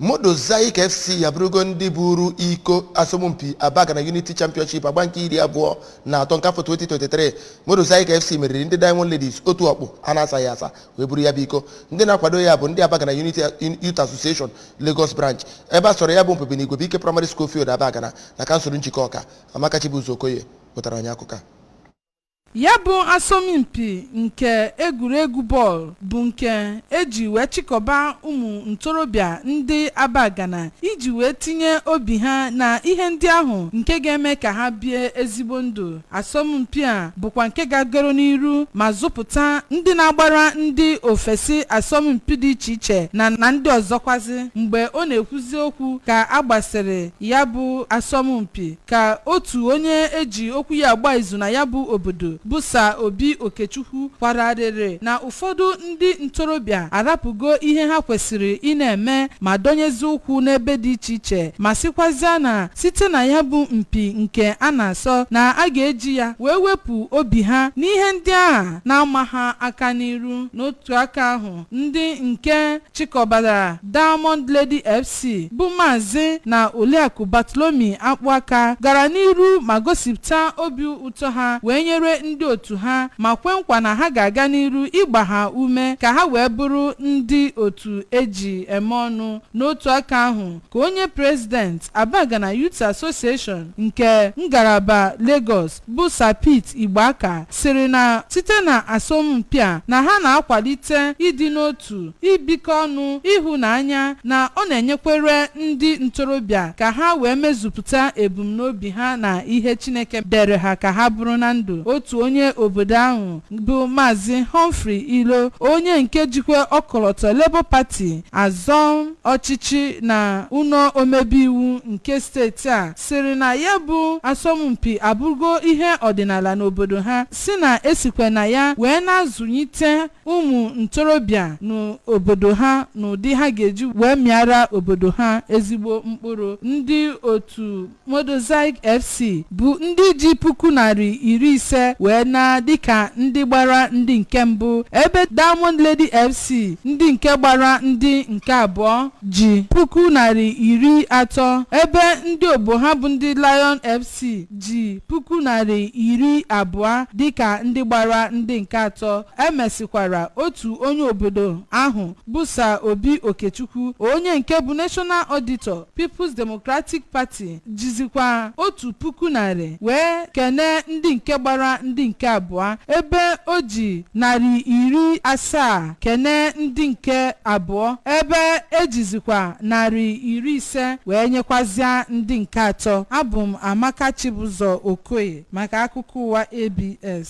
Modozaik FC abụrụgo ndị buru iko asọmpi Abagana Unity Championship agba nke iri abụọ na atọ nke afọ 2023. Modozaik FC meriri ndị Diamond Ladies otu ọkpụ a na-asaghị asa wee buru ya bụ iko. Ndị na-akwado ya bụ ndị Abagana Unity Youth Association Lagos Branch ebe a sọrọ ya bụ mpi bụ n'Igwebuike Primary School Field Abagana na kansụl Njikọka. Amaka Chibuzo Okoye wetara anyị akụkọ a. Ya bụ asọmpi nke egwuregwu bọọlụ bụ nke e ji wee chịkọba ụmụ ntorobịa ndị Abagana iji wee tinye obi ha na ihe ndị ahụ nke ga-eme ka ha bie ezigbo ndụ asọmpi a bụkwa nke gagoro n'iru ma zụpụta ndị na-agbara ndị ofesi asọmpi dị iche iche na ndị ọzọkwazi mgbe ọ na-ekwuzi okwu ka a gbasịrị ya bụ asọmpi ka otu onye e ji okwu ya agba izu na ya bụ obodo bụ Sir Obi Okechukwu kwara arịrị na ụfọdụ ndị ntorobịa arapụgo ihe ha kwesịrị ị na-eme ma dọnyezi ụkwụ n'ebe dị iche iche ma sịkwazịa na site na ya bụ mpi nke a na-asọ na a ga-eji ya wee wepụ obi ha n'ihe ndị ahụ na-ama ha aka n'iru n'otu aka ahụ ndị nke chịkọbara Diamond Lady FC bụ Maazị na Oliakụ Bartholomew Akpụaka gara n'iru ma gosipụta obi ụtọ ha wee nyere ndị otu ha ma kwe nkwa na ha ga-aga n'iru ịgba ha ume ka ha wee bụrụ ndị otu e ji eme ọnụ. N'otu aka ahụ ka onye President Abagana Youth Association nke ngalaba Lagos bụ Sir Pete Igbeaka sịrị na site na asọmpi a na ha na-akwalite ịdị n'otu, ibikọ ọnụ, ịhụnanya na ọ na-enyekwere ndị ntorobịa ka ha wee mezupụta ebumnobi ha na ihe Chineke dere ha ka ha bụrụ na ndụ. Otu onye obodo ahụ bụ Maazị Humphrey Ilo, onye nke jikwa ọkọlọtọ Labour Party azọ ọchịchị na ụlọ omebe iwu nke steeti a, sịrị na ya bụ asọmpi abụrụgo ihe ọdịnala n'obodo ha sị na e sikwe na ya wee na-azụnyite ụmụ ntorobịa n'obodo ha n'ụdị ha ga-eji wee mịara obodo ha ezigbo mkpụrụ ndị otu Modozaik FC bụ ndị ji puku narị iri ise wee naa dịka ndị gbara ndị nke mbụ ebe Diamond Lady FC ndị nke gbara ndị nke abụọ ji puku narị iri atọ ebe ndị ogbo ha bụ ndị Lion FC ji puku narị iri abụọ dịka ndị gbara ndị nke atọ e mesịkwara otu onye obodo ahụ bụ Sir Obi Okechukwu onye nke bụ National Auditor People's Democratic Party jizikwa otu puku narị wee kenee ndị nke gbara ndị nke abụọ ebe o ji narị iri asaa kenee ndị nke abụọ ebe e jizikwa narị iri ise wee nyekwazịa ndị nke atọ abụ m amaka chibụzọ okoye maka akụkọ ụwa abs